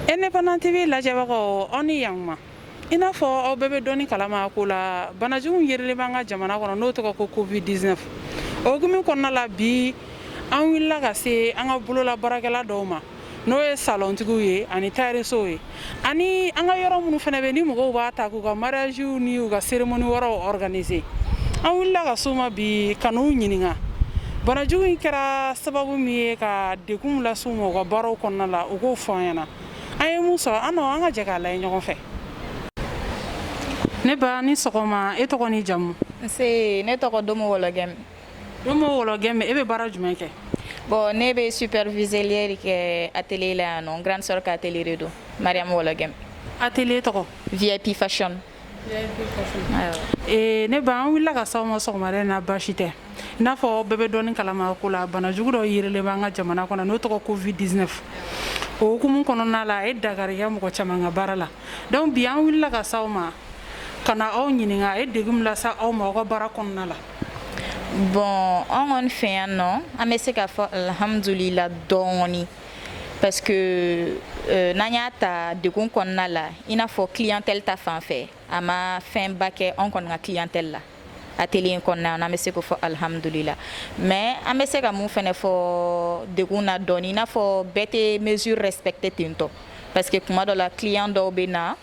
Independent TV lajɛbagaw aw ni yan i n'a fɔ aw bɛɛ bɛ dɔɔni kalama ko la banajugu yɛrɛlen b'an ka jamana kɔnɔ n'o tɔgɔ ko covid-19 o hukumu kɔnɔna la bi an wulila ka se an ka bolola baarakɛla dɔw ma n'o ye salontigiw ye ani tailleursow ye ani an ka yɔrɔ minnu fana bɛ ni mɔgɔw b'a ta k'u ka mariagew ni u ka cérémonie wɛrɛw organiser an wulila ka s'u ma bi ka n'u ɲininka banajugu in kɛra sababu min ye ka degun las'u ma u ka baaraw kɔnɔna la U k'o fɔ an ɲɛna an ye mun sɔrɔ an an ka jɛ k'a lajɛ ɲɔgɔn fɛ ne ba ni sɔgɔma e tɔgɔ ni jamu ne tɔgɔ Domo Wologɛmi Domo Wologɛmi e bɛ baara jumɛn kɛ bon ne bɛ superviseur de kɛ atelier la yan nɔ n grande sœur ka atelier de don Mariam Wologɛmi atelier tɔgɔ VIP Fashion Ne ba an wulila ka s'aw ma sɔgɔmada in na baasi tɛ i n'a fɔ bɛɛ bɛ dɔɔni kalama ko la bana jugu dɔ yɛrɛlen b'an ka jamana kɔnɔ n'o tɔgɔ covid-19 o hukumu kɔnɔna la a ye dankari kɛ mɔgɔ caman ka baara la donc bi an wulila ka s'aw ma ka na aw ɲininka a ye degun min lase aw ma aw ka baara kɔnɔna la bon an kɔni fɛ yan nɔ an bɛ se k'a fɔ alhamdulila dɔɔnin parce que euh, n'an y'a ta degun kɔnɔna la i n'a fɔ clientèle ta fan fɛ a ma fɛnba kɛ anw kɔni ka clientèle la atelier in kɔnɔna na an bɛ se k'o fɔ alihamudulila mais an bɛ se ka mun fɛnɛ fɔ degun na dɔɔni i n'a fɔ bɛɛ tɛ mesure respecter ten tɔ parce que kuma dɔ la client dɔw bɛ na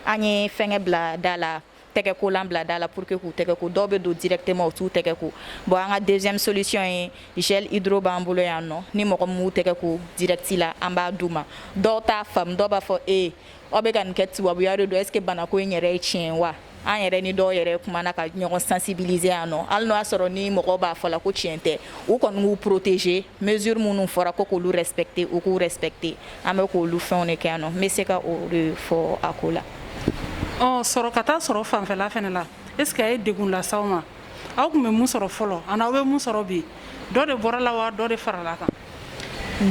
an ye fɛngɛ bila da la tɛgɛkolan bila da la pour que k'u tɛgɛ ko dɔw bɛ don directement u t'u tɛgɛ ko bon an ka deuxième solution ye gel hydro b'an bolo yan nɔ ni mɔgɔ min m'u tɛgɛ ko direct la an b'a d'u ma dɔw t'a faamu dɔw b'a fɔ ee aw bɛ ka nin kɛ tubabuya de don est ce que banako in yɛrɛ ye tiɲɛ ye wa an yɛrɛ ni dɔw yɛrɛ kumana ka ɲɔgɔn sensibiliser yan nɔ hali n'o y'a sɔrɔ ni mɔgɔw b'a fɔ la ko tiɲɛ tɛ u kɔni k'u protéger mesure minnu fɔra ko k'olu respecter u k'u respecter an bɛ k'olu fɛnw de kɛ yan nɔ n bɛ se ka o de fɔ a ko la sɔrɔ ka taa sɔrɔ fanfɛla fana la est ce que a ye degun las'aw ma aw tun bɛ mun sɔrɔ fɔlɔ ani aw bɛ mun sɔrɔ bi dɔ de bɔra la wa dɔ de farala kan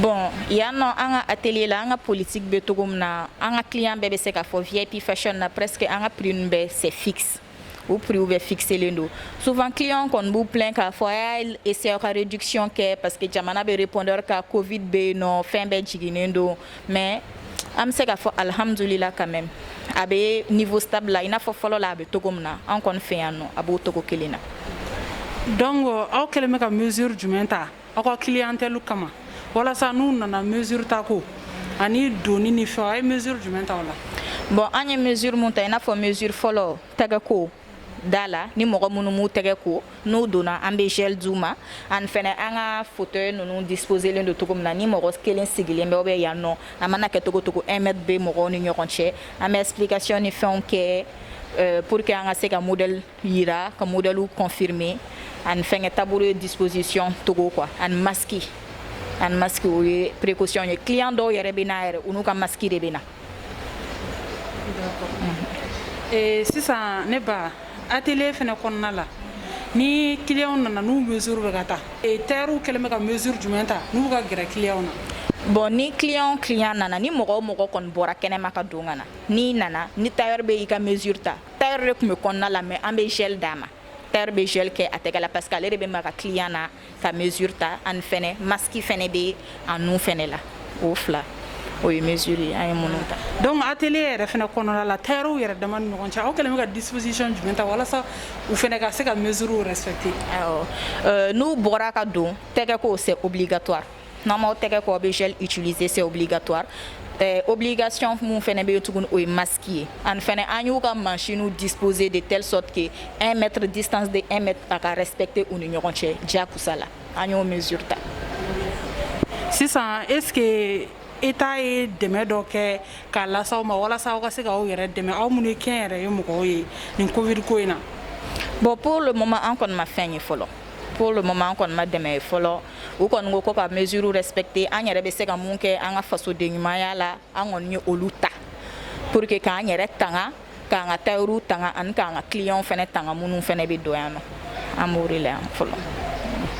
bon yan nɔ an ka atelier la an ka politique bɛ cogo min na an ka client bɛɛ bɛ se k'a fɔ VIP Fashion na presque an ka prix ninnu bɛɛ c'est fixe o prix bɛɛ fixelen don souvent client kɔni b'u plaint k'a fɔ a y'a essayer ka réduction kɛ parce que jamana bɛ répondeur ka covid bɛ yen nɔ fɛn bɛɛ jiginnen don mais an bɛ se k'a fɔ alhamdulila quand même a bɛ niveau stable la i n'a fɔ fɔlɔ la a bɛ cogo min na an kɔni fɛ yan nɔ a b'o cogo kelen na donc aw kɛlen bɛ ka mesure jumɛn ta aw ka clientèle kama walasa n'u nana mesure ta ko ani doni ni fɛnw a ye mesure jumɛn ta o la bon an ye mesure mun ta i n'a fɔ mesure fɔlɔ tɛgɛko da la ni mɔgɔ minnu m'u tɛgɛ ko n'u donna an bɛ gel d'u ma ani fɛnɛ an ka fauteuil ninnu disposelen don cogo min na ni mɔgɔ kelen sigilen bɛ bɛ yan nɔ a mana kɛ cogo cogo un mètre bɛ mɔgɔw ni ɲɔgɔn cɛ an bɛ explication ni fɛnw kɛ euh, pour que an ka se ka modèle Yira ka modèle confirmer ani fɛnkɛ tabouret disposition cogo quoi ani masque ani masque o ye précaution ye client dɔw yɛrɛ bɛ na yɛrɛ u n'u ka masque de bɛ na. Ee sisan ne ba atelier fɛnɛ kɔnɔna la ni clients nana n'u mesure bɛ ka ta ee tailleurs kɛlen bɛ ka mesure jumɛn ta n'u ka gɛrɛ clients na. Bon ni client client nana ni mɔgɔ o mɔgɔ kɔni bɔra kɛnɛma ka don ka na n'i nana ni tailleur bɛ i ka mesure ta Tailleur de tun bɛ kɔnɔna la mais an bɛ gel d'a ma. Tailleur bɛ gel kɛ a tɛgɛ la parce que ale de bɛ maga client na ka mesure ta ani fɛnɛ masque fɛnɛ bɛ a nun fɛnɛ la. O fila o ye mesure ye an ye minnu ta. Donc atelier yɛrɛ fɛnɛ kɔnɔna la tailleur yɛrɛ dama ni ɲɔgɔn cɛ aw kɛlen bɛ ka disposition jumɛn ta walasa u fɛnɛ ka se ka mesure respecter? Awɔ, n'u bɔra ka don tɛgɛ ko c'est obligatoire N'aw m'aw tɛgɛ ko aw bɛ gel utiliser c'est obligatoire euh, obligation min fɛnɛ bɛ yen tuguni o ye masque ye ani fɛnɛ an y'u ka machinew disposer de telle sorte que 1 mètre distance de 1 mètre a ka respecter u ni ɲɔgɔn cɛ diyakosa la an y'o mesure ta sisan est ce que État ye dɛmɛ dɔ kɛ k'a lase aw ma walasa aw ka se k'aw yɛrɛ dɛmɛ aw minnu ye kɛnyɛrɛye mɔgɔw ye nin covid ko in na bon pour le moment an kɔni ma fɛn ye fɔlɔ pour le moment an kɔni ma dɛmɛ ye fɔlɔ u kɔni ko ka mesure respecter an yɛrɛ bɛ se ka mun kɛ an ka fasoden ɲumanya la an kɔni ye olu ta pour que k'an yɛrɛ tanga k'an ka tailleur tanga ani k'an ka clients fɛnɛ tanga minnu fɛnɛ bɛ don yan nɔ an b'o de la yan fɔlɔ.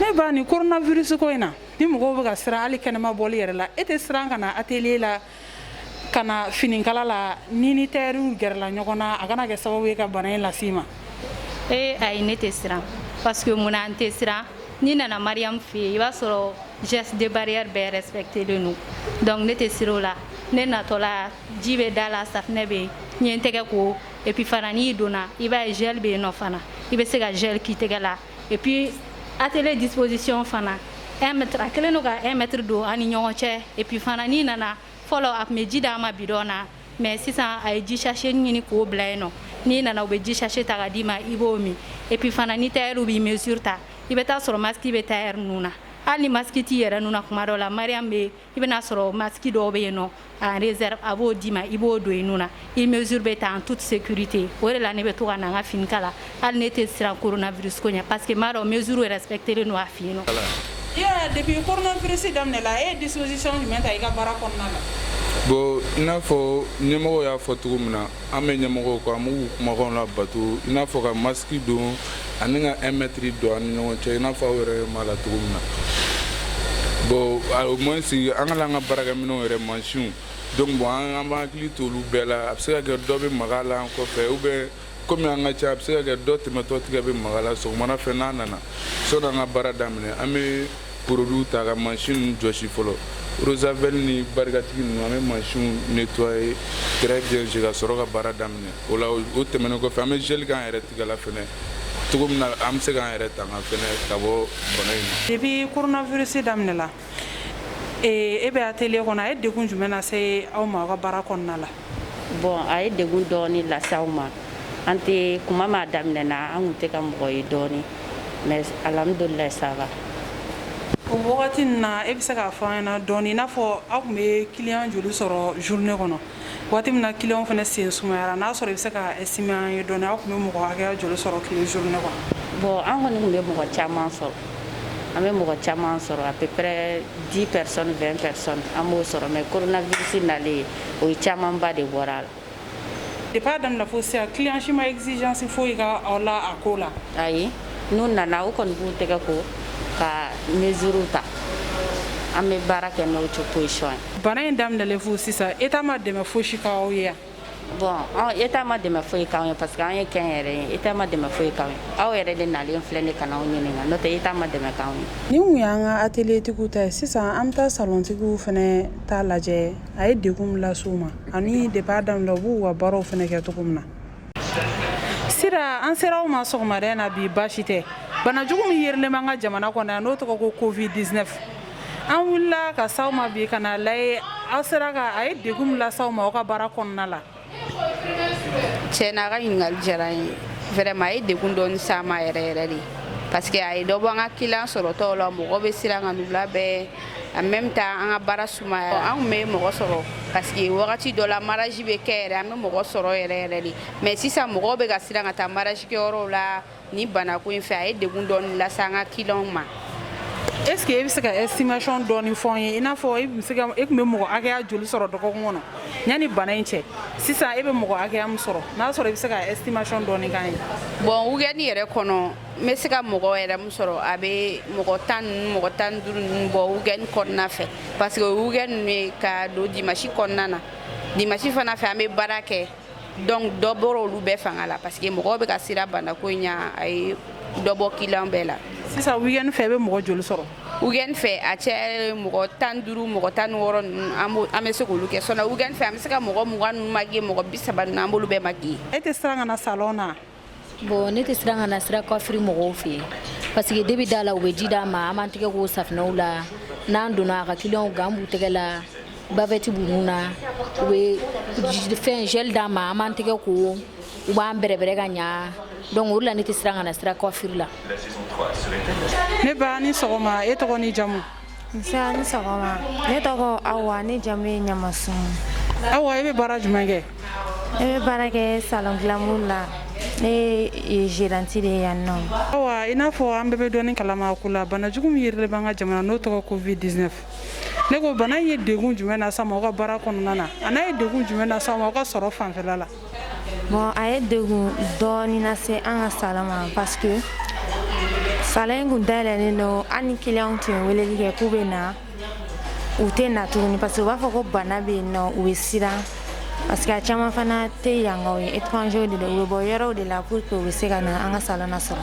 ne ba ni coronavirus ko in na ni mɔgɔw bɛ ka siran hali kɛnɛma bɔli yɛrɛ la e tɛ siran ka na atelier la ka na finikala la n'i ni tailleurw gɛrɛla ɲɔgɔn na a kana kɛ sababu ye ka bana in las'i ma ee ayi ne tɛ siran parce que mun na n tɛ siran n'i nana Mariam fɛ yen i b'a sɔrɔ geste de barrière bɛɛ respectelen don donc ne tɛ siran o la ne natɔla ji bɛ da la safinɛ bɛ yen n ye n tɛgɛ ko et puis fana n'i donna i b'a ye gel bɛ yen nɔ fana i bɛ se ka gel k'i tɛgɛ la Et puis atelier disposition fana 1 mètre a kɛlen don ka 1 mètre don an ni ɲɔgɔn cɛ et puis fana n'i nana fɔlɔ a tun bɛ ji d'an ma bidɔn na mais sisan a ye ji sachet ɲini k'o bila yen nɔ n'i nana u bɛ ji sachet ta ka d'i ma i b'o min et puis fana ni tailleur b'i mesure ta i bɛ taa sɔrɔ masque bɛ tailleur nun na hali ni masque t'i yɛrɛ nun na kuma dɔw la Mariam bɛ i bɛn'a sɔrɔ masque dɔw bɛ yen nɔ en réserve a b'o d'i ma i b'o don i nun na i mesure bɛ ta en toute sécurité o de la ne bɛ to ka na n ka fini kala hali ne tɛ siran coronavirus ko ɲɛ parce que n b'a dɔn mesure respectelen don a fɛ yen nɔ depuis coronavirus daminɛla e ye disposition jumɛn ta i ka baara kɔnɔna la bon i n'a fɔ ɲɛmɔgɔw y'a fɔ cogo min na an bɛ ɲɛmɔgɔw kɔ an b'u kumakan labato i n'a fɔ ka masque don ani ka 1 mètre don an ni ɲɔgɔn cɛ i n'a fɔ aw yɛrɛ b'a la cogo min na bon au moins an ka an ka baarakɛminɛnw yɛrɛ mansinw don bon an b'an hakili to olu bɛɛ la a bɛ se ka kɛ dɔ bɛ maga la an kɔfɛ ou bien kɔmi an ka ca a bɛ se ka kɛ dɔ tɛmɛtɔ tigɛ bɛ maga la sɔgɔmada fɛ n'an nana sɔnni an ka baara daminɛ an bɛ produit ta ka mansin ninnu jɔsi fɔlɔ rozavɛli ni barikatigi ninnu an bɛ mansinw nettoyer très bien ka sɔrɔ ka baara daminɛ o la o tɛmɛnen kɔfɛ an bɛ gel k'an yɛrɛ tigɛ la fɛnɛ cogo min na an bɛ se k'an yɛrɛ tanga fɛnɛ ka bɔ bana in ma depuis coronavirus daminɛla e bɛ atelier kɔnɔ a ye degun jumɛn lase aw ma aw ka baara kɔnɔna la Bon a ye degun dɔɔnin las'anw ma an tɛ kuma ma daminɛ na an tun tɛ ka mɔgɔ ye dɔɔnin mais alhamdulilayi ça va o wagati ninnu na e bɛ se k'a fɔ an ɲɛna dɔɔnin i n'a fɔ aw tun bɛ client joli sɔrɔ journée kɔnɔ waati min na client fana sen sumayara n'a sɔrɔ i bɛ se ka estimer an ye dɔɔnin aw tun bɛ mɔgɔ joli sɔrɔ tile journée kɔnɔ bon an kɔni tun bɛ mɔgɔ caman sɔrɔ an bɛ mɔgɔ caman sɔrɔ à peu près 10 personnes 20 personnes an b'o sɔrɔ mais coronavirus nalen ye o ye camanba de bɔra a la depuis a daminɛ fo sisan client si ma exigence foyi k'aw la a ko la ayi n'u nana u kɔni b'u tɛgɛ ko ka mesure ta an bɛ baara kɛ n'o disposition ye bana in daminɛlen fo sisan état ma dɛmɛ fosi k'aw ye bon an état ma dɛmɛ foyi k'an ye parce que an y'a k'an yɛrɛ ye état ma dɛmɛ foyi k'an ye aw yɛrɛ de nalen filɛ nin ka na anw ɲininka n'o tɛ état ma dɛmɛ k'anw ye nin kun y'an ka atelier tigiw ta ye sisan an bɛ taa salon tigiw fana ta lajɛ a ye degun min lase u ma ani depuis a daminɛ u b'u ka baaraw fana kɛ cogo min na sira an sera aw ma sɔgɔmada in na bi baasi tɛ bana jugu min yerilen b'an ka jamana kɔnɔ yan n'o tɔgɔ ko covid 19 an wulila ka s'aw ma bi ka na lajɛ aw sera ka a ye degun min lase aw ma aw ka baara kɔnɔna la tiɲɛ na a ka ɲininkali diyara n ye vraiment a ye degun dɔɔni s'an ma yɛrɛ yɛrɛ de parce que a ye dɔ bɔ an ka client sɔrɔtaw la mɔgɔ bɛ siran ka n'u labɛn en même temps an ka baara sumaya an tun bɛ mɔgɔ sɔrɔ parce que wagati dɔ la mariage bɛ kɛ yɛrɛ an bɛ mɔgɔ sɔrɔ yɛrɛ yɛrɛ de mais sisan mɔgɔw bɛ ka siran ka taa mariage kɛyɔrɔw la ni banako in fɛ a ye degun dɔɔni lase an ka kiliyanw ma est ce que e bɛ se ka estimation dɔɔni fɔ n ye i n'a fɔ e bɛ se ka e tun bɛ mɔgɔ hakɛya joli sɔrɔ dɔgɔkun kɔnɔ yanni bana in cɛ sisan e bɛ mɔgɔ hakɛya min sɔrɔ n'a sɔrɔ i bɛ se ka estimation dɔɔni k'an ye. bon weekend yɛrɛ kɔnɔ n bɛ se ka mɔgɔ yɛrɛ min sɔrɔ a bɛ mɔgɔ tan ninnu mɔgɔ tan ni duuru ninnu bɔ weekend kɔnɔna fɛ parce que o ye weekend ninnu ye ka don dimanche kɔnɔna na dimanche fana fɛ an bɛ baara kɛ. donc dɔ bɔra olu bɛɛ fanga la parce que mɔgɔw bɛ ka siran banako in ɲa a ye dɔ bɔ kiliyan bɛɛ la sisan weekend fɛ i bɛ mɔgɔ joli sɔrɔ weekend fɛ a cɛ mɔgɔ tan ni duuru mɔgɔ tan ni wɔɔrɔ ninnu an bɛ se k'olu kɛ sinon weekend fɛ an bɛ se ka mɔgɔ mugan ninnu maquiller mɔgɔ bi saba ninnu an b'olu bɛɛ maquiller e tɛ siran ka na salon na bon ne tɛ siran ka na sira coiffure mɔgɔw fɛ yen parce que depuis da la u bɛ ji d'an ma an b'an tɛgɛ ko safinɛw la n'an donna a ka kiliyanw gant b'u tɛgɛ la bavɛti b'u nun na u bɛ fɛn gel d'an ma an b'an tɛgɛ ko u b'an bɛrɛbɛrɛ ka ɲa donc o de la ne tɛ siran ka na sira coiffure la ne ba ni sɔgɔma e tɔgɔ ni jamu Nse ni sɔgɔma ne tɔgɔ Awa ne jamu ye Ɲamaso Awa i bɛ baara jumɛn kɛ n bɛ baara kɛ salon glamour la ne ye gérante de ye yan nɔ Awa i n'a fɔ an bɛɛ bɛ dɔɔni kalama a ko la banajugu min yerilen b'an ka jamana n'o tɔgɔ covid dix-neuf ne ko bana ye degun jumɛn lase aw ma aw ka baara kɔnɔna na ani a ye degun jumɛn lase aw ma aw ka sɔrɔ fanfɛla la Bon a ye degun dɔɔnin lase an ka salon ma parce que salon in kun dayɛlɛlen don hali ni client tun ye wele kɛ k'u bɛ na u tɛ na tuguni parce que u b'a fɔ ko bana bɛ yen nɔ u bɛ siran parce que a caman fana tɛ yankaw ye étranger de don u bɛ bɔ yɔrɔw de la pour que u bɛ se ka na an ka salon na sɔrɔ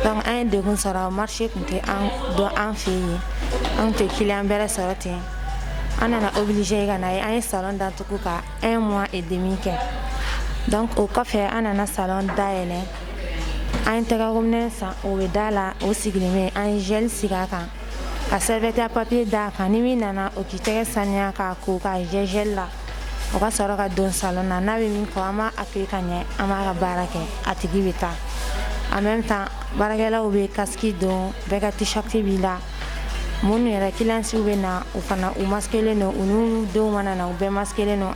donc an ye degun sɔrɔ marché tun tɛ an dɔn an fɛ yen an tɛ client bɛrɛ sɔrɔ ten an nana obligé ka na ye an ye salon datugu ka un mois et demi kɛ donc o kɔfɛ an nana salon dayɛlɛ an ye tɛgɛkominɛ san o bɛ da la o sigilen bɛ an ye gel sigi a kan ka serviette papier da a kan ni min nana o k'i tɛgɛ saniya k'a ko k'a jɛ gel la o ka sɔrɔ ka don salon na n'a bɛ min fɔ an b'a accueillir ka ɲɛ an b'a ka baara kɛ a tigi bɛ taa en même temps baarakɛlaw bɛ casque don bɛɛ ka t-shirt b'i la minnu yɛrɛ kiliyanw bɛ na u fana u maskelen don u n'u denw mana na u bɛɛ maskelen don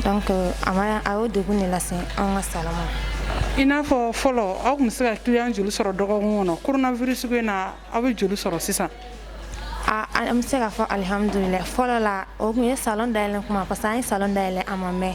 donc a a y'o degun de lase an ka salon ma i n'a fɔ fɔlɔ aw tun bɛ se ka kiliyan joli sɔrɔ dɔgɔkun kɔnɔ coronavirus ko in na aw bɛ joli sɔrɔ sisan an bɛ se k'a fɔ alihamdulila fɔlɔ la o tun ye salon dayɛlɛ kuma parce que an ye salon dayɛlɛ a ma mɛn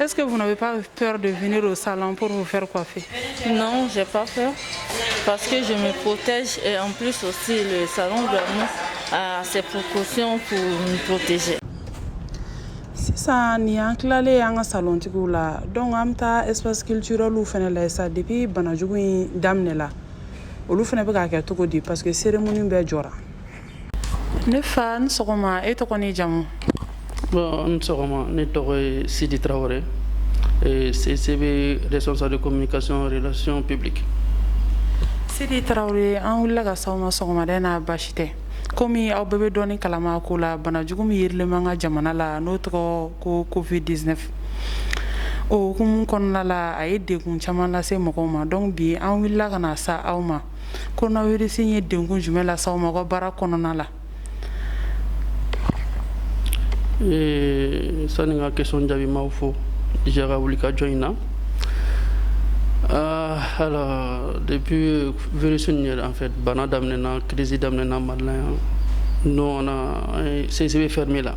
Est-ce que vous n'avez pas peur de venir au salon pour vous faire coiffer Non, j'ai pas peur parce que je me protège et en plus aussi le salon vraiment a ses précautions pour me protéger. sisan nin an tilalen an ka salontigiw la donc an bɛ taa espace culturelw fana la sa depuis banajugu in daminɛla olu fana bɛ k'a kɛ cogo di parce que cérémonie bɛɛ jɔra ne fa ni sɔgɔma e tɔgɔ ni jamu bon ni sɔgɔma ne tɔgɔ ye sidi tarawele eh, CCB responsable de communication et relations publiques sidi tarawele an wulila ka s'aw ma sɔgɔmada in na basi tɛ komi aw bɛɛ bɛ dɔɔni kalama ko la banajugu min yirilen b'an ka jamana la n'o tɔgɔ ko covid 19 o hukumu kɔnɔna la a ye degun caman lase mɔgɔw ma donc bi an wulila ka na se aw ma kɔnɔnasi ye denkun jumɛn la sa mɔgɔ baara kɔnɔna la ee sanu ka kɛsɔn jaabi ma fɔ jaka wuli ka jɔn in na aa depi vs yɛrɛ an fɛ bana daminɛɛna kiirisi daminɛɛna mali yan n sese bɛ fɛn min la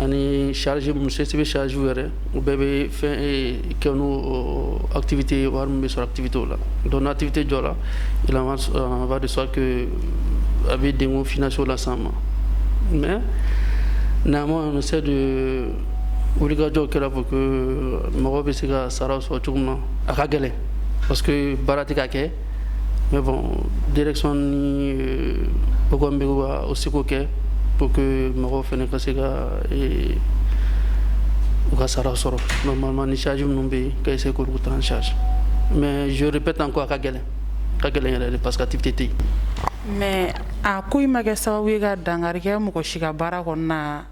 ani sariz mu se sɛbɛn sariz yɛrɛ u bɛɛ bɛ fɛn kɛ atifite wari bɛ sɔrɔ atifite o la dɔn atifite jɔ la de sa a bɛ den fso la san ma mɛ n'a ma se de wulikajɔ kɛra ko mɔgɔ bɛ se ka sara sɔrɔ cogo na a ka gɛlɛn parce que baara tɛ ka kɛ mais bon direction ni u kɔni bɛ ka u seko kɛ pour que mɔgɔw fana ka se ka ee, u ka sara sɔrɔ normalement ni charge minnu bɛ yen ka essayer k'olu ta en charge mais je répète encore a ka gɛlɛn a ka gɛlɛn yɛrɛ de parce que activité tɛ yen. mais a ko in ma kɛ sababu ye ka dankari kɛ mɔgɔ si ka baara kɔnɔna na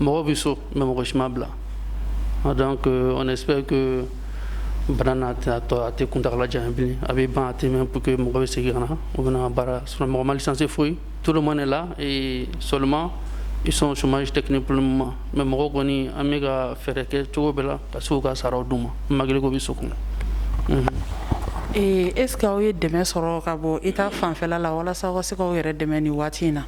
mɔgɔ bɛ so mais mɔgɔ si ma bila donc euh, on espère que bana in a tɛna to a tɛ kuntagala janya bilen a bɛ ban a tɛ mɛn pour que mɔgɔ bɛ segin ka na u bɛna baara sinon mɔgɔ ma licencié foyi tout le monde est là et seulement ils sont au chômage technique pour le moment mais mɔgɔ kɔni an bɛ ka fɛɛrɛ kɛ cogo bɛɛ la ka se k'u ka saraw d'u ma malgré k'u bɛ so kɔnɔ mhm. est ce que aw ye dɛmɛ sɔrɔ ka bɔ état fanfɛla la walasa aw ka se k'aw yɛrɛ dɛmɛ nin waati in na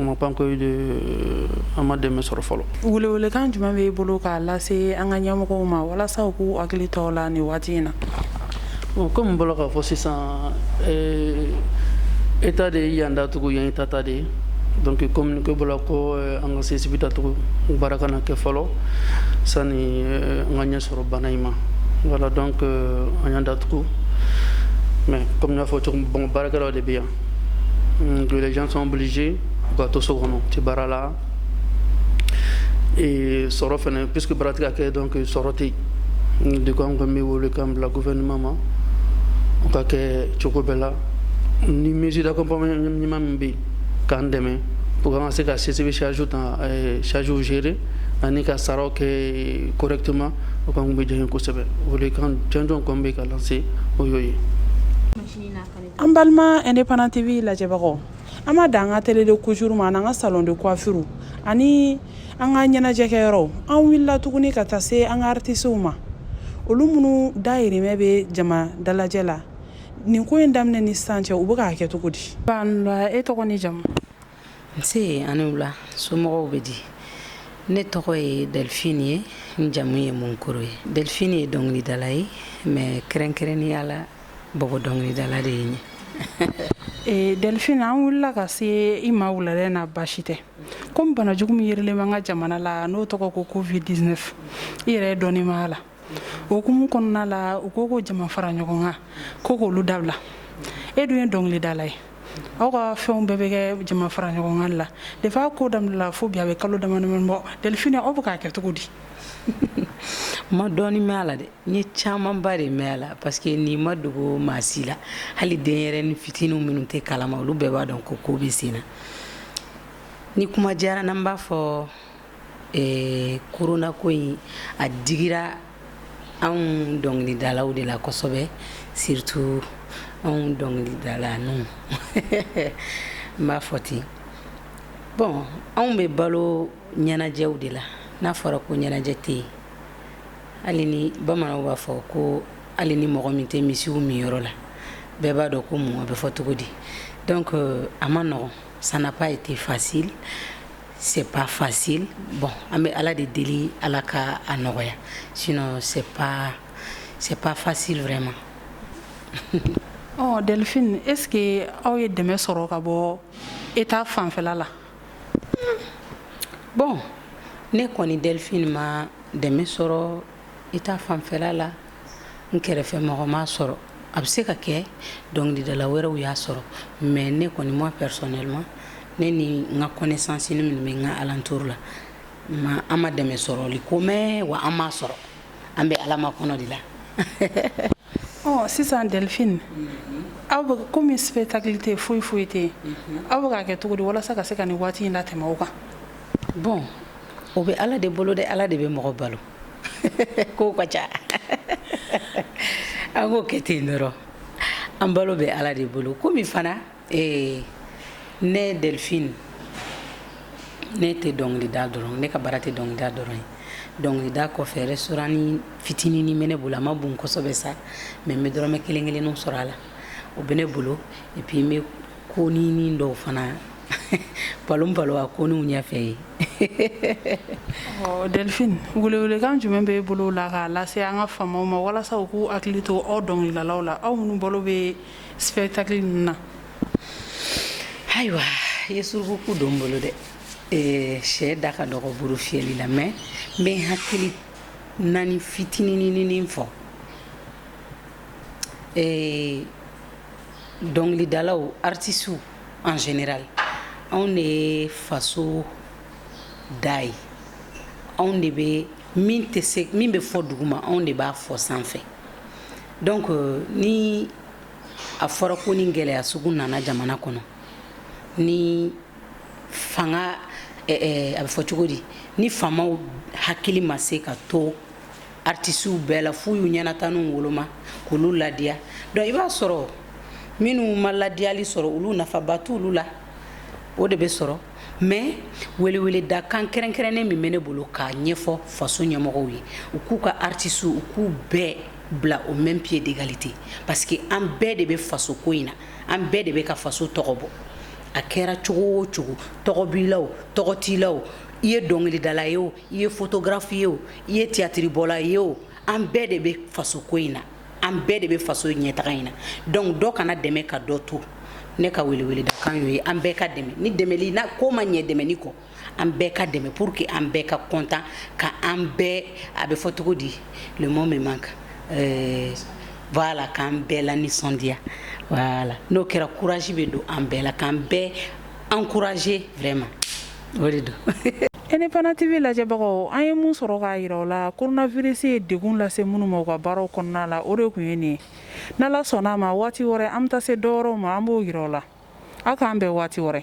On n'a pas encore de an ma dɛmɛ sɔrɔ fɔlɔ welewelekan jumɛn b'i bolo k'a lase an ka ɲɛmɔgɔw ma walasa u k'u hakili to aw la nin waati in na kɔmi n bɔla k'a fɔ sisan état de ye yan datugu état ta de ye donc communiqué bɔla ko an ka CCB datugu baara kana kɛ fɔlɔ sani an ka ɲɛ sɔrɔ bana in ma voilà donc an y'a datugu mais kɔmi n y'a fɔ cogo baarakɛla de bɛ yan mm, que les gens sont obligés u ka to so kɔnɔ u tɛ baara la et sɔrɔ fana puisque baara tɛ ka kɛ donc sɔrɔ tɛ yen de ko an kɔni bɛ welekan bila gouvernement ma u k'a kɛ cogo bɛɛ la ni mesure d'accompagnement ɲuman min bɛ yen k'an dɛmɛ pour an ka se ka CCB charge ta eh, charge gérer ani ka saraw kɛ correctement o kɔni tun bɛ diya n ye kosɛbɛ welekan jɔnjɔn kɔni bɛ ka lancer o y'o ye. machine n'a kari an balima indépendant tv lajɛbagaw an ma dan an ka atelier de couture ma an'an ka salon de coiffure ani an ka ɲɛnajɛkɛyɔrɔw an wulila tuguni ka taa se an ka artisiw ma olu minnu dayirimɛ bɛ jama dalajɛ la nin ko in daminɛ ni sisan cɛ u bɛ k'a kɛ cogo di e tɔgɔ ni jamu nse ani wula somɔgɔw bɛ di ne tɔgɔ ye delphine ye n jamu ye munkoro ye delphine ye dɔnkilidala ye mais kɛrɛnkɛrɛnnenya la bɔbɔ dɔnkilidala de ye n ye Eh, delphine an wulila ka se i ma wuladɛ na baasi tɛ komi banajugu min yerilen b'an ka jamana la n'o tɔgɔ ko covid 19 i yɛrɛ ye dɔɔni mɛn a la o hukumu kɔnɔna la u ko ko jama fara ɲɔgɔn kan ko k'olu dabila e dun ye dɔnkilidala ye aw ka fɛnw bɛɛ bɛ kɛ jama fara ɲɔgɔn kan la depuis a ko daminɛla fo bi a bɛ kalo damadamani bɔ delphine aw bɛ k'a kɛ cogo di n ma dɔɔni mɛn a la dɛ n ye camanba de mɛn a la parce que nin ma dogo maa si la hali denyɛrɛnin fitininw minnu t'a kalama olu bɛɛ b'a dɔn ko ko bɛ sen na ni kuma diyara n b'a fɔ Ee corona ko in a digira anw dɔnkilidalaw de la kosɛbɛ surtout anw dɔnkilidalaninw n b'a fɔ ten bon anw bɛ balo ɲɛnajɛw de la n'a fɔra ko ɲɛnajɛ tɛ yen hali ni bamananw b'a fɔ ko hali ni mɔgɔ min tɛ misiw minyɔrɔ la bɛɛ b'a dɔn ko mun a bɛ fɔ cogo di donc a ma nɔgɔn ça n'a pas été facile c'est pas facile bon an bɛ ala de deli ala ka a nɔgɔya sinon c'est pas c'est pas facile vraiment oh, Delphine est ce que aw ye dɛmɛ sɔrɔ ka bɔ état fanfɛla la bon ne kɔni Delphine ma dɛmɛ sɔrɔ état fanfɛla la n kɛrɛfɛ mɔgɔ m'a sɔrɔ a bɛ se ka kɛ dɔnkilidala wɛrɛw y'a sɔrɔ mais ne kɔni moi personnellement ne ni n ka connaissance ni minnu bɛ n ka alentour la ma an ma dɛmɛ sɔrɔli ko mɛn wa an m'a sɔrɔ an bɛ ala makɔnɔ de la ɔ sisan delphine aw bɛ komi spectacle tɛ foyi foyi tɛ yen aw bɛ k'a kɛ cogo di walasa ka se ka nin waati in latɛmɛ o kan bon O bɛ ala de bolo dɛ ala de bɛ mɔgɔ balo ko ka ca an k'o kɛ ten dɔrɔn an balo bɛ ala de bolo komi fana ne delphine ne tɛ dɔnkili da dɔrɔn ne ka baara tɛ dɔnkili da dɔrɔn ye dɔnkili da kɔfɛ restaurant ni fitinin bɛ ne bolo a ma bon kosɛbɛ sa mais n bɛ dɔrɔmɛ kelen kelen sɔrɔ a la o bɛ ne bolo et puis n bɛ ko ni dɔw fana palon balo a ko ninw ɲɛfɛ ye delphine welewelekan jumɛn b'i bolo la k'a lase an ka faamaw ma walasa u k'u hakili to aw dɔnkilidalaw la aw minnu balo bɛ spectacle ninnu na ayiwa i ye surukuku don n bolo dɛ sɛ da ka dɔgɔ buru fiyɛli la mais n bɛ n hakilinanin fitinininin fɔ dɔnkilidalaw artisiw en général anw de ye faso da ye anw de bɛ min bɛ fɔ duguma anw de b'a fɔ sanfɛ donc ni a fɔra ko nin gɛlɛya sugu nana jamana kɔnɔ ni fanga a bɛ fɔ cogo di ni faamaw hakili ma se ka to artisiw bɛɛ la f'u y'u ɲɛnataniw woloma k'olu ladiya donc i b'a sɔrɔ minnu ma ladiyali sɔrɔ olu nafaba t'olu la o de bɛ sɔrɔ mais weleweledakan kɛrɛnkɛrɛnnen min bɛ ne bolo k'a ɲɛfɔ faso ɲɛmɔgɔw ye u k'u ka artisiw u k'u bɛɛ bila au même pied d'égalité parce que an bɛɛ de bɛ faso ko in na an bɛɛ de bɛ ka faso tɔgɔ bɔ a kɛra cogo o cogo tɔgɔ b'i la o tɔgɔ t'i la o i ye dɔnkilidala ye o i ye photographe ye o i ye théâtre bɔla ye o an bɛɛ de bɛ faso ko in na an bɛɛ de bɛ faso ɲɛtaga in na donc dɔ kana dɛmɛ ka dɔ to ne ka weleweledakan y'o ye an bɛɛ ka dɛmɛ ni dɛmɛli n'a ko ma ɲɛ dɛmɛni kɔ an bɛɛ ka dɛmɛ pour que an bɛɛ ka content ka an bɛɛ a bɛ fɔ cogo di le mot me manque euh, voilà k'an bɛɛ lanisɔndiya voilà n'o kɛra courage bɛ don an bɛɛ la k'an bɛɛ encourager vraiment o de don Indépendant TV lajɛbagaw an ye min sɔrɔ k'a yira aw la coronavirus ye degun lase minnu ma u ka baaraw kɔnɔna la o de kun ye nin n' ala sɔnna a ma waati wɛrɛ an bɛ taa se dɔ wɛrɛw ma an b'o yira aw la aw k'an bɛn waati wɛrɛ